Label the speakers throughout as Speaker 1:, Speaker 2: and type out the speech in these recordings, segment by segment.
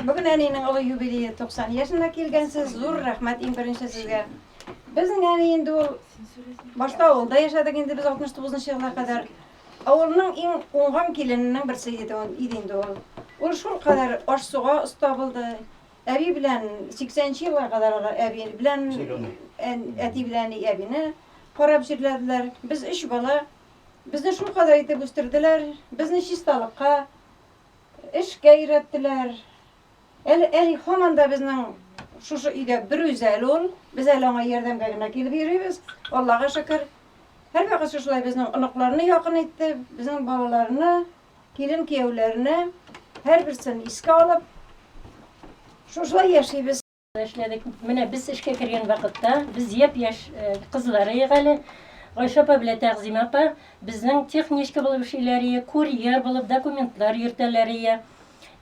Speaker 1: Бүген әниенең олы юбилее 90 яшенә килгәнсез. Зур рәхмәт иң беренче сезгә. Безнең әни инде ул башта авылда яшәдек инде без 69 елга кадәр. Авылның иң уңган килененең берсе иде ул иде инде ул. Ул шул кадәр аш-суга оста булды. Әби белән 80 елга кадәр әби белән әти белән әбине карап җирләделәр. Без өч бала. Безне шул кадәр итеп үстерделәр. Безне чисталыкка Эшкә өйрәттеләр. Әле әни һаман да безнең шушы өйдә бер үзәл ул. Без әле аңа ярдәмгә генә килеп йөрибез. Аллага шөкер. Һәрвакыт шушылай безнең оныкларны якын итте, безнең балаларны, килен-кияүләрне, һәрберсен искә алып, шушылай яшибез. Эшләдек.
Speaker 2: Менә без эшкә кергән вакытта, без япь-яшь кызлар идек әле. Гайшә апа белән Тәгъзимә апа безнең техничка булып эшлиләр ие, курьер булып документлар йөртәләр ие.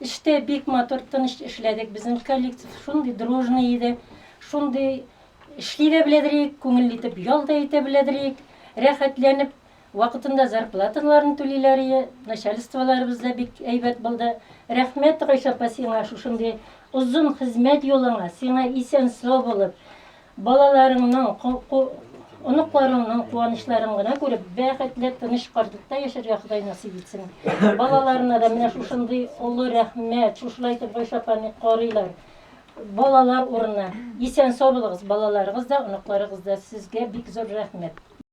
Speaker 2: Эштә бик матур, тыныч эшләдек. Безнең коллектив шундый дружный иде, шундый эшли дә беләдер идек, күңелле итеп ял да итә беләдер идек, рәхәтләнеп Вакытында зарплаталарын түлиләрие, начальстволарыбыз да бик әйбәт булды. Рәхмәт, Гайшә апа, сиңа шушындый озын хезмәт юлыңа, сиңа исән-сау булып, балаларыңның, ку, ку, оныкларыңның куанычларын гына күреп, бәхетле, тыныч картлыкта яшәргә Ходай насыйп итсен. Балаларына да менә шушындый олы рәхмәт, шушылай итеп Гайшә апаны карыйлар. Балалар урынына. Исән-сау булыгыз, балаларыгыз да, оныкларыгыз да. Сезгә бик зур рәхмәт.